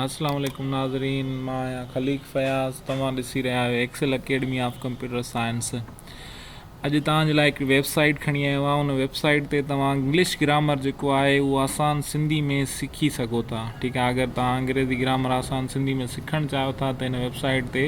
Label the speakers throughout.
Speaker 1: السلام عليڪم ناظرين مان آهيان خليق فياض توهان ڏسي رهيا آهيو Excel academy of computer science اڄ توهان جي لاء هڪڙي ويب سائيٽ کڻي آيو آهيان ان ويب سائيٽ تي توهان انگلش گرامر جيڪو آهي اهو آسان سنڌي ۾ سکي سگهو ٿا ٺيڪ آهي اگر توهان انگريزي گرامر آسان سنڌي ۾ سکڻ چاهيو ٿا ته هن ويب سائيٽ تي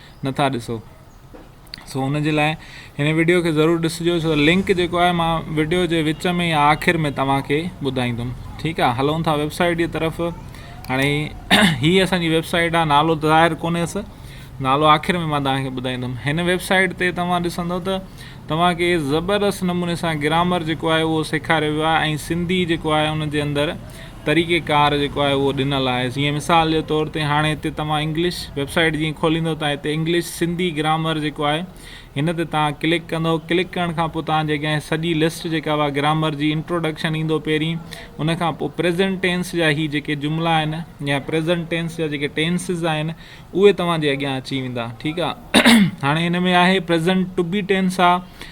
Speaker 1: نٿا ڏسو سو ان جي لاء هن وڊيو کي ضرور ڏسجو سو لنڪ جيڪو آهي مان وڊيو جي وچ ۾ يا آخر ۾ توهان کي ٻڌائيندم ٺيڪ آهي هلون ٿا ويبسائيٽ جي طرف هاڻي هي اسانجي ويبسائيٽ آهي نالو ته ظاهر ڪونهي اس نالو آخر ۾ مان توهان کي ٻڌائيندم هن ويبسائيٽ تي توهان ڏسندو ته توهان کي زبردست نموني سان گرامر جيڪو آهي اهو سيکاريو ويو آهي ۽ سنڌي جيڪو آهي ان جي اندر طريقي ڪار جيڪو آهي اهو ڏنل آهي جيئن مثال جي طور تي هاڻي هتي توهان انگلش ويب سائيٽ جيئن کوليندو تان هتي انگلش سنڌي گرامر جيڪو آهي هن تي توهان ڪلڪ ڪندو ڪلڪ ڪرڻ کان پوء توهان جي اڳيان سڄي لسٽ جيڪا اها گرامر جي انٽروڊڪشن ايندو پهرين ان کان پوء پريزنٽ ٽينس جا هي جيڪي جملا آهن يا پريزنٽ ٽينس جا جيڪي ٽينسز آهن اهي توهان جي اڳيان اچي ويندا ٺيڪ آهي هاڻي هن ۾ آهي پريزنٽ ٽو بي ٽينس آهي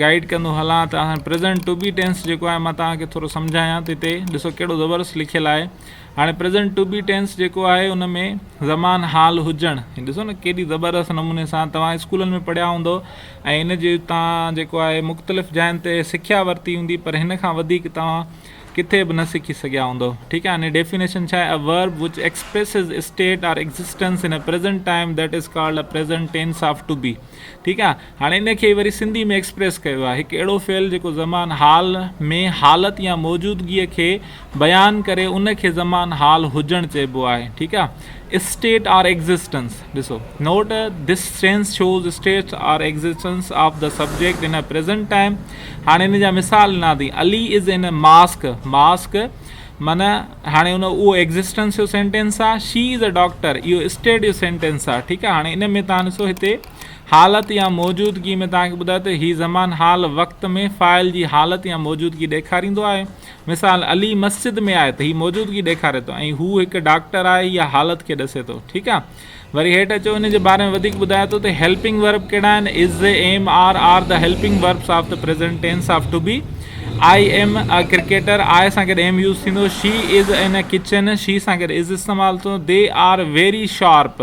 Speaker 1: گائيڊ ڪندو هلان ته هاڻي پريزنٽ ٽو بي ٽينس جيڪو آهي مان توهان کي ٿورو سمجهايان ته هتي ڏسو ڪهڙو زبردست لکيل آهي هاڻي پريزنٽ ٽو بي ٽينس جيڪو آهي ان ۾ زمان حال هجڻ هي ڏسو نه ڪيڏي زبردست نموني سان توهان اسڪولن ۾ پڙهيا هوندو ۽ ان جي تان جيڪو آهي مختلف جاين تي سکيا ورتي هوندي پر هن کان وڌيڪ توهان ڪٿي به نه سکي سگهيا هوندو ٺيڪ آهي هن ڊيفينيشن ڇا آهي verb which expresses state or existence in present time that is called a present tense of to be ٺيڪ آهي هاڻي ان کي ئي وري سنڌي ۾ ايڪسپريس ڪيو آهي. هڪ اهڙو فعل جيڪو زمان حال ۾ حالت يا موجودگيء کي بيان ڪري ان کي زمان حال هجڻ چئبو آهي. ٺيڪ آ. State or Existence، ڏسو. Note، This tense shows state or existence of the subject in a present time هاڻي ان جا مثال ڏنا اٿئي Ali is in a mosque، mosque, معنيٰ هاڻي ان اهو ايڪزسٽنس جو سينٽينس آ، شي از اي ڊاڪٽر اهو اسٽيٽ جو سينٽينس آ ٺيڪ آ هاڻي ان ۾ تان ڏسو هتي حالت يا موجودگي ۾ توهان کي ٻڌائي ته هي زمان حال وقت ۾ فاعل جي حالت يا موجودگي ڏيکاريندو آهي. مثال، علي مسجد ۾ آهي ته هي موجودگي ڏيکاري ٿو ۽ هو هڪ ڊاڪٽر آهي يا حالت کي ڏسي ٿو. ٺيڪ آهي. وري هيٺ اچو ان جي باري ۾ وڌيڪ ٻڌائي ٿو ته هيلپنگ ورب ڪهڙا آهن، is, am, are, are the helping verbs of the present tense of to be, I am a cricketer, آء سان گڏ ايم يوز ٿيندو، شي از ان اي ڪچن، شي سان گڏ از استعمال ٿيندو، they are very sharp.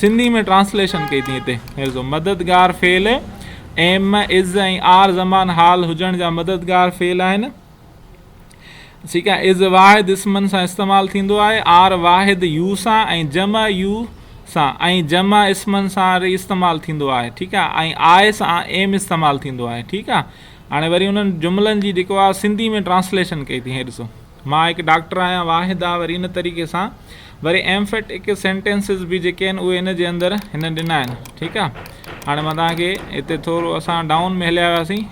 Speaker 1: Sindhi ۾ translation ڪئي ٿي هتي هيرزو مددگار فعل ايم از ۽ آر زمان حال هجڻ جا مددگار فعل آهن ٺيڪ آهي از واحد اسمن سان استعمال ٿيندو آهي آر واحد يو سان ۽ جمع يو سان ۽ جمع اسمن سان وري استعمال ٿيندو آهي ٺيڪ آهي ۽ آء سان ايم استعمال ٿيندو آهي ٺيڪ آهي هاڻي وري انهن جملن جي جيڪو آهي سنڌي ۾ ٽرانسليشن ڪئي ٿي هيرزو مان هڪ ڊاڪٽر آهيان واحد آ وري ان طريقي سان وري ايم فٽ اڪ سينٽينسز به جيڪي آهن اهي ان جي اندر هن ڏنا آهن ٺيڪ آ هاڻي مان توهان کي هتي ٿورو اسان ڊائون ۾ هليا وياسين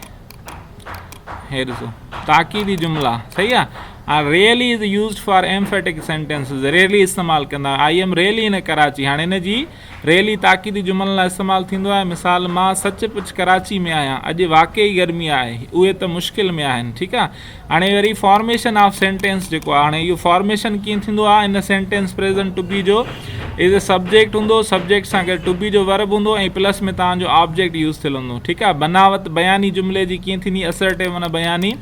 Speaker 1: هي ڏسو تاڪيدي جملا صحيح آ هاڻي really is used for am فٽ اڪ سينٽينسز ريئلي استعمال ڪندا I am really in Karachi هاڻي ان جي ريلي تاڪيدي جملن لاء استعمال ٿيندو آهي، مثال، مان سچ پچ ڪراچي ۾ آهيان، اڄ واقعي گرمي آهي، اهي ته مشڪل ۾ آهن، ٺيڪ آهي. هاڻي وري فارميشن آف سينٽينس جيڪو آهي، هاڻي اهو فارميشن ڪيئن ٿيندو آهي، هن سينٽينس پريزنٽ ٽو بي جو ايز اي سبجيڪٽ هوندو، سبجيڪٽ سان گڏ ٽو بي جو ورب هوندو ۽ پلس ۾ توهان جو آبجيڪٽ يوز ٿيل هوندو، ٺيڪ آهي. بناوت بياني جملي جي ڪيئن ٿيندي، اسرٽيو معنيٰ بياني،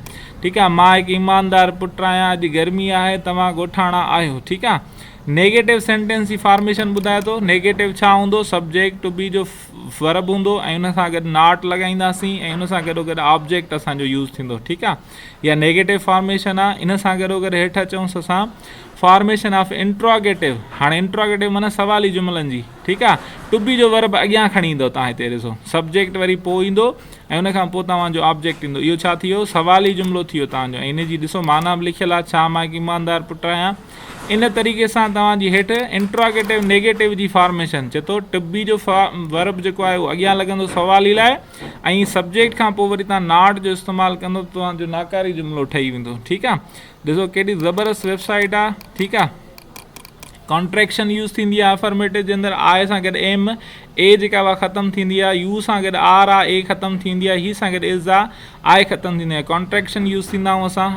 Speaker 1: ٺيڪ آهي، مان هڪ ايماندار پٽ آهيان، اڄ گرمي آهي، توهان ڳوٺاڻا آهيو، ٺيڪ آهي. نيگيٽو سينٽينس جي فارميشن ٻڌائي ٿو. نيگيٽو ڇا هوندو؟ سبجيڪٽ ٽو بي جو ورب هوندو ۽ ان سان گڏ ناٽ لڳائينداسين ۽ ان سان گڏوگڏ آبجيڪٽ اسان جو يوز ٿيندو ٺيڪ آ اها نيگيٽو فارميشن آ ان سان گڏوگڏ هيٺ اچونس اسان فارميشن آف انٽراگيٽو هاڻي انٽراگيٽو معنيٰ سوالي جملن جي ٺيڪ آ ٽو بي جو ورب اڳيان کڻي ايندو تان هتي ڏسو سبجيڪٽ وري پوء ايندو ۽ ان کان پوء توهان جو آبجيڪٽ ايندو اهو ڇا ٿي ويو سوالي جملو ٿي ويو تان جو ۽ ان جي ڏسو معنيٰ به لکيل آ ڇا مان هڪ ايماندار پٽ آهيان ان طريقي سان توهان جي هيٺ انٽراگيٽو نيگيٽو جي فارميشن چي ٿو ٽو بي جو ورب جيڪو آهي اهو اڳيان لڳندو سوالي لاء ۽ سبجيڪٽ کان پوء وري توهان ناٽ جو استعمال ڪندو ته توهان جو ناڪاري جملو ٺهي ويندو ٺيڪ آهي ڏسو ڪيڏي زبردست ويب سائيٽ آهي ٺيڪ آهي ڪانٽريڪشن يوز ٿيندي آهي افرميٽو جي اندر آء سان گڏ ايم اي جيڪا اها ختم ٿيندي آهي يو سان گڏ آر آ اي ختم ٿيندي آهي هي سان گڏ از آ آء ختم ٿيندي آهي ڪانٽريڪشن يوز ٿيندا آهيون اسان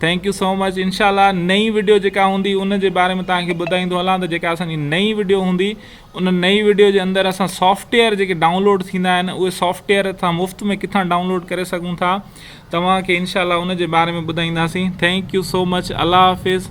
Speaker 1: ٿينڪ يو سو مچ انشاء الله نئين وڊيو جيڪا هوندي ان جي باري ۾ توهان کي ٻڌائيندو هلان ته جيڪا اسان جي نئين وڊيو هوندي ان نئين وڊيو جي اندر اسان سافٽويئر جيڪي ڊائونلوڊ ٿيندا آهن اهي سافٽويئر اسان مفت ۾ ڪٿان ڊائونلوڊ ڪري سگهون ٿا توهان کي انشاء الله ان جي باري ۾ ٻڌائينداسين ٿينڪ يو سو مچ الله حافظ